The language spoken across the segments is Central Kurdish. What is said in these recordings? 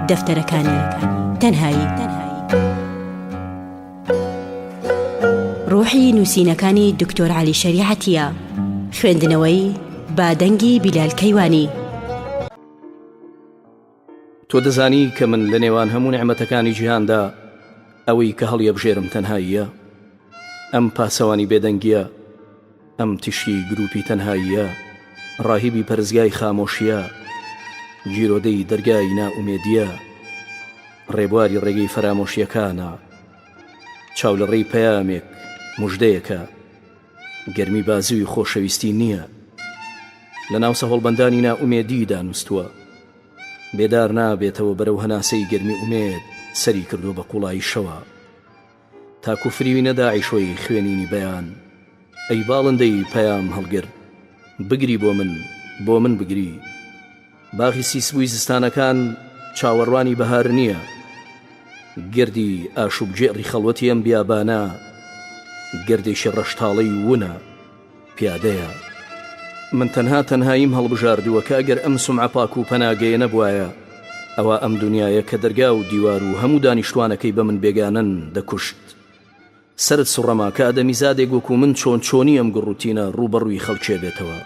دەفتەرەکانی تەنهایی ڕوحی نووسینەکانی دکتۆر علی شریعەتە خوێندنەوەی بادەنگی بیلال کەیوانی تۆ دەزانی کە من لە نێوان هەموو نعممەتەکانی جیهاندا ئەوەی کە هەڵیەبژێرم تەنهاییە ئەم پاسەوانی بێدەنگیە ئەم تیشکی گرووپی تەنهاییە، ڕاهیبی پەرستگای خامۆشیە، گیرۆدەی دەرگای نائومێدیە، ڕێبواری ڕێگەی فەرامۆشیەکانە، چاولەڕێی پەیامێک، مژدەیەکە، گەرمی بازووی خۆشەویستی نیە، لە ناو سەهۆڵبەندانی نائومێدی دانوستووە، بێدار نابێتەوە بەرەو هەناسەی گەرمی ئومێد سەری کردووە بە قوڵایی شەوە. تاکو فریوینە داعشۆی خوێنینی بەیان ئەی باڵندەی پەیام هەڵگر بگری بۆ من بۆ من بگری باغی سیسبووی زستانەکان چاوەڕوانی بەهار نییە گردی ئاشوب گێڕی خەڵوەتی ئەم بیابانە گردێکی ڕەشتاڵەی وونە پیادەیە. من تەنها تەنهاییم هەڵبژاردووە کە ئەگەر ئەم سمعە پاک و پەناگەیە نەبوایە، ئەوا ئەم دونیایە کە دەرگا و دیوار و هەموو دانیشتوانەکەی بە من بێگانەن، دەکوشت. سەرت سوڕما کە ئادەمیزادێک وەکو من چۆن چۆنی ئەم گڕوتینە ڕووبەڕووی خەڵکێ بێتەوە.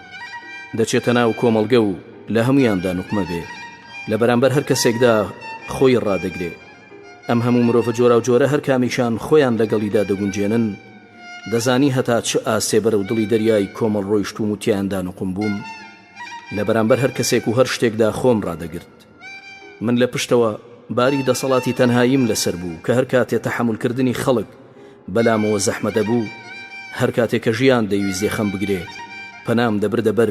دەچێتە ناو کۆمەڵگە و لە هەموویاندا نوقمە بێ. لە بەرامبەر هەر کەسێکدا خۆی ڕادەگرێ. ئەم هەموو مرۆڤە جۆراوجۆرە هەر کامێکیان خۆیان لەگەڵیدا دەگونجێنن، دەزانی هەتا چ ئاستێ بەرەو دڵی دەریای کۆمەڵ ڕۆیشتووم و تیایاندا نوقم بووم؟ لە بەرامبەر هەر کەسێک و هەر شتێکدا خۆم ڕادەگرت. من لە پشتەوە، باری دەسەڵاتی تەنهاییم لەسەر بوو کە هەر کاتێ تەحەمولکردنی خەڵک بەلامەوە زەحمە دەبوو، هەر کاتێ کە ژیان دەیویست یەخەم بگرێ، پەنام دەبردە بەر،